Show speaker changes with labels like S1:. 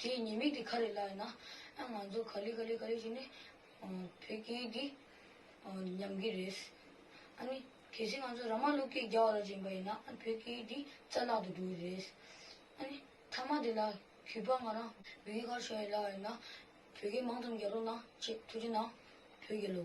S1: དེའི་ཉེས་དམིགས་དེ་ག་རེ་ལགས་ན། ང་ཚོ་ག་ལེ་ག་ལེ་ག་ལེ་བྱས་ནས་བོད་སྐད་འདི་ཉམས་ཀྱི་རེད། གལ་སྲིད་ང་ཚོ་ར་མ་ཀླུ་སྐད་རྒྱ་བ་ལ་བྱིན་པ་ཡིན་ན་བོད་སྐད་འདི་རྩ་བརླག་ཏུ་འགྲོ་གི་རེད། མཐའ་མ་དེ་ལ་གུས་པ་ང་རང་བོད་སྐད་ཁ་ཤོ་ཡི་ལགས་ཡིན་ན་བོད་སྐད་མང་ཙམ་རྒྱག་རོགས་གནང་ཅེས་ཐུགས་རྗེ་གནང། བོད་རྒྱལ་ལོ།